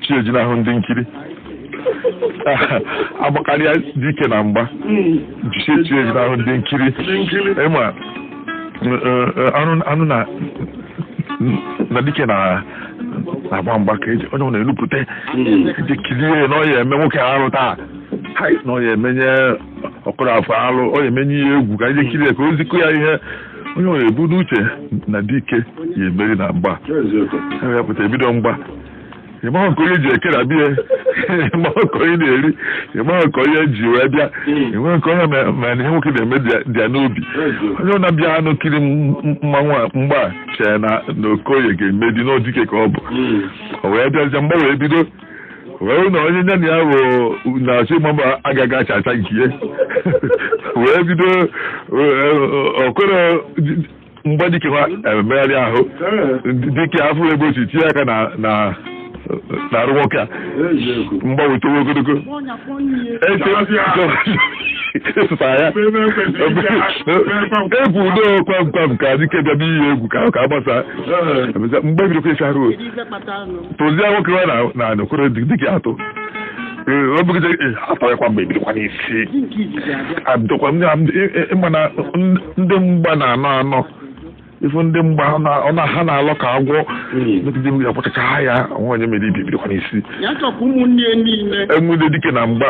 chi ejinahụ ndị nkiri agbakarịa dike na mgba jisie chi ejinahụ ndị nkiri ịmanụ na na dike na-agba mgba ka eji onye ọ na-elupụta eji kirie na ọ ya eme nwoke arụ taa na ọ ya emenye Okoroafọ alụ ọ ya emenye ihe egwu ka anyị kirie ka o zi Okoye ihe onye ọ na-ebu n'uche na dike ya emeri na mgba ya pụta ebido mgba ịmaghị nke onye ji ekere abịa ịmaghị nke onye na-eri ịmaghị nke onye ji wee bịa enweghị nke onye ma- ma na ihe nwoke na-eme dị- dị ya n'obi onye ọ na-abịa anụ kiri m- m- mmanwụ a mgba a, chee na na Okoye ga-emeri na ọ dike ka ọ bụ o wee bịazie mgba wee bido wee hụ na onye nya na ya bụ na-achọ ịma mba agaghị acha acha nke ya wee bido Okoro mgbe dike na-emegharị ahụ dike afụ ebe o si tinye aka na na n'arụ nwoke a mgba wee towe ogologo esụtara ya egwu udo kwam kwam ka dike bịa n'ihi egwu ka ahụ ka agbasa mgba bidokwa ịsa arụ ife kpatara nụ tụzie nwoke nwa na- na Okoro dike atụ Ee, ọ bụgide ee, atọghịkwa mgba ebidokwa n'isi dike izizi abịa abidokwa ndị ndị- ị- ị- ịma na ndị- ndị mgba na-anọ anọ ifu ndị mgba ọ na- ọ na ha na-alọ ka agwọ megide mmiri akpọchacha ha ya nwa onye meri ibe ebidokwa n'isi ya chọkwa ụmụnne ya niile enwude dike na mgba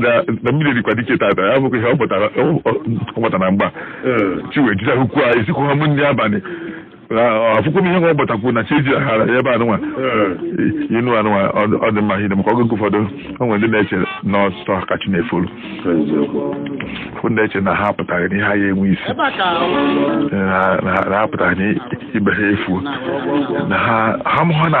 na emeridịkwa dike tata ya bụkwa ihe ọ pụtara na mgba chi wee jinahụkwu ha esikwu ha m ndị abalị afụkwu m ihe nwa gbatakwuru na chi eji aghara ya ebe anụnwa inu anụnwa ọ dị mma hide maka oge ụfọdụ o nwere ndị na-eche na ọ sọ ha ka chi na-efolu ụfọdụ eche na ha pụtara na ihe ha ya enwe isi na ha pụtara na ibe ha efu na ha ha mụha na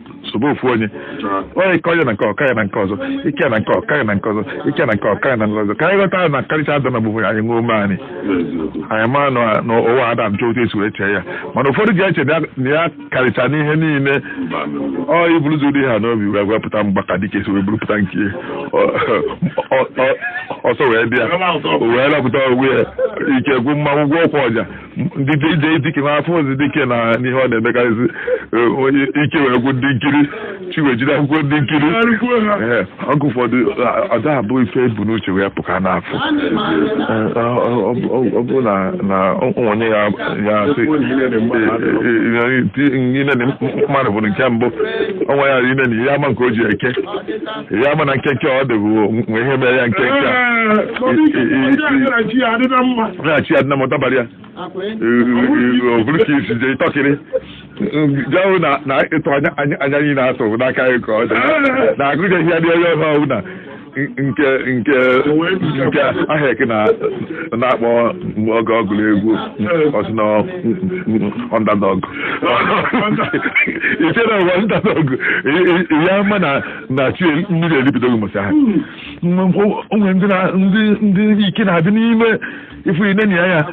sobe ofu onye onye ka onye na nke ọ ka ya na nke ọzọ ị ka ya na nke ọ ka ya na nke ọzọ ị ka ya na nke ọ ka ya na nke ọzọ ka anyị ghọta na karịcha ada na bụ anyị nwee ume ani anyị mara na na ụwa ada njọ otu esi wee chee ya mana ụfọdụ ji eche na ya- na ya karịcha n'ihe niile ọ iburu ụzọ ụdị ha n'obi wee wepụta mgba ka dike si wee burupụta nke ya. Ọ- ọ- ọ- ọsọ wee bịa o wee lapụta onwe ya ike gwụ mmanwụ gwụ ọkwa ọja ndị ije dike ma afọ ozi dike na n'ihe ọ na-emekarịzi eh, onye ike wee gwụ ndị nkiri chi wee jinahụkwa ndị nkiri Arịkwuo ha. Ee, oge ụfọdụ a- ọ da abụ ife e bu n'uche wee pụ ka a na-afụ Ee, ọ- ọ- ọ bụ- ọ- ọ bụ na na onye ya ya asị inene mmadụ bụ nke mbụ ọnwa ya inene ya ama nke o ji eke ya mana nkenke ọ dịghị nwe ihe mere ya nkenke a. na chi ya adịna mma na chi ya nna m ọ dabara ya ọ bụrụ ka i si jee tọkịrị jahụ na na ịtụ anya anya anya anyị na-atụ bụ n'aka anyị ka ọ dị na agụjeghị ya dị onye ọha ọbụ na nke nke nke aha eke na na-akpọ oge ọ gụrụ egwu ọ sị na underdog i chere ụwa underdog ya ma na na chi mmiri eribidoghị ụbọchị ahụ Mgbe mfọ- o nwere ndị na- ndị- ndị ike na-adị n'ime ifu ine na ya ya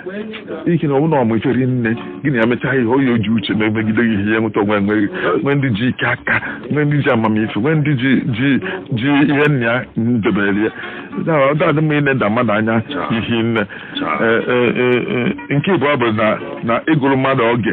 ike na ọbụna ọmụ iferi nne gị na ya mechaa ihe oyi oji uche na-emegide gị ihe ya nweta o nwe nwere nwee ndị ji ike aka nwee ndị ji amamife nwee ndị ji ji ji ihe nna ya debere ya Da- da adị mma ịneda mmadụ anya ihi nne Ee, ee, ee, ee, nke ịbụọ bụ na na ịgụrụ mmadụ oge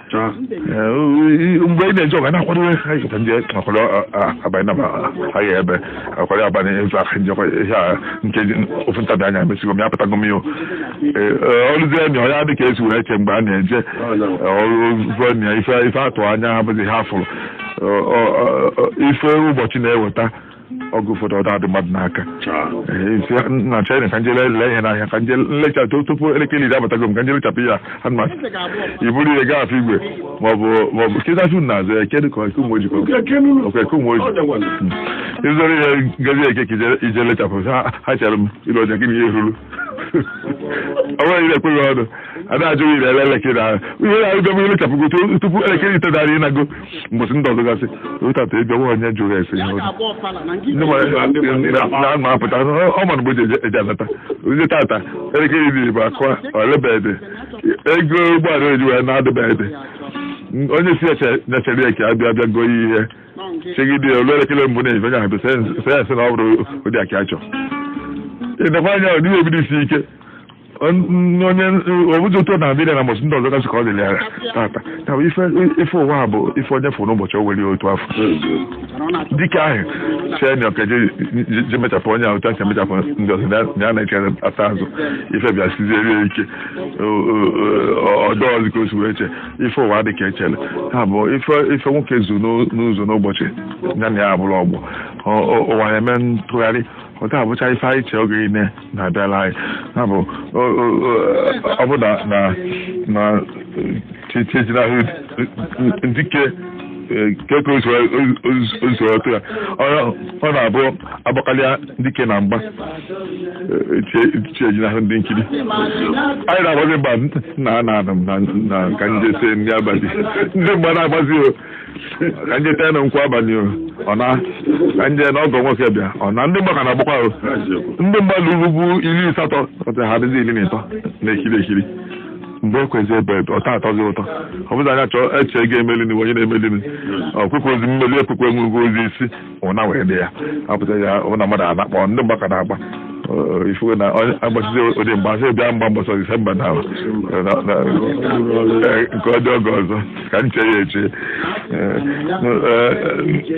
Ah. Eh, mgbe ị na-eje ọgụ na-akwado ịkọta ndị akwado abalị na agha ebe akwado abalị efe aka njekwa ihe a nke ofu ntabi anya emesigo m ya pụtago m yo o ruzie nya ya dị ka e si wee chee mgbe a na-eje ọrụ nya ife a tụ anya abụghị a fụrụ ife ụbọchị na-eweta oge ụfọdụ ọ dadị mmadụ n'aka na china ka m jee lee ihe n'ahịa ka m jee lechaa tupu elekere iri abatago m ka m jee lechapụ ya anụma i buru ihe gaa Afọ Igwe maọbụ maọbụ kịtachu na azụ ya kedụ ka Ụmụoji ọ Eke Ụmụoji i buru ihe gazie Eke ka i jee lechapụ ha chere m ịlụ ọja gị na ihe ruru ọ bụrụ ire ekweghị ọnụ a na-ajụ ire ele elekere ahụ ihe na-arụgo m i lechapụgo tupu elekere itenani ị nago mbọsị ndị ọzọ gasị otata ebe nwa onye jụrụ ese ihe na-ama apụta ọ ma mgbe e ji anata onye tata elekere iri bụ akụọ o lebede ego ụgbọala e ji wee na-adịbede onye sị ya chere ya ka ọ bịa abịa goo ihe chegide o lu elekere mbụ na-efe onye ahụ sị ya sị na ọ bụrụ ụdị a ka a chọ i nekwaa anya ọ dịghị ebido isi ike onye obodo ụtọ na abịa na mbọchị ndị ọzọ gasị ka ọ dịrị ya tata ya bụ ife ife ụwa a bụ ife onye fụrụ n'ụbọchị o were ya otu afụ dike ahụ chee na ọ ka-eje jee mechapụ onye ahụ tata mechapụ ndị ọzọ na ya na-echere ya n'azụ ife bịa siziere ya ike ọ dịrọzi ka o si wee chee ife ụwa dị ka e chere ha bụ ife ife nwoke zu n'ụzọ n'ụbọchị ya na ya abụrụ ọgbọ ụwa na-eme ntụgharị ọ da abụcha ife anyị chee oge niile na-abịala anyị ya bụ o- o- o- ọ bụ na na na chi ejinahụ dike keke usoro otu ya Ọ- ọ na-abụ agbakalịa dike na mgba chi ejinahụ ndị nkiri anyị na-agbazi mgba na na na na ka ndị se ndị abalị ndị mgba na-agbazi o ka nje tee na nkwa abalị o ọ na ka nje na ọgọ nwoke bịa ọ na ndị mgba ka na-agbakwa o ndị mmadụ rugbu iri asatọ ọtị ha dịzi iri na ịtọ na-ekiri ekiri mgbe ekwezi ebe ọta atọzi ụtọ ọ bụzi anya chọọ eche ga-emelini onye na-emelini ọkpụkpụ ozi mmeli ekpukpe nwụrụgo ozi isi ụna wee dị ya apụta ya hụ na mmadụ anakpọ ndị mgba ka na-agba Ọ, ifuwe na onye agbasizi ụdị mgba sị bịa mgba mbọsọ disemba na na- na- eh, nke ọ dị oge ọzọ ka m chee ya eche Eh, eh,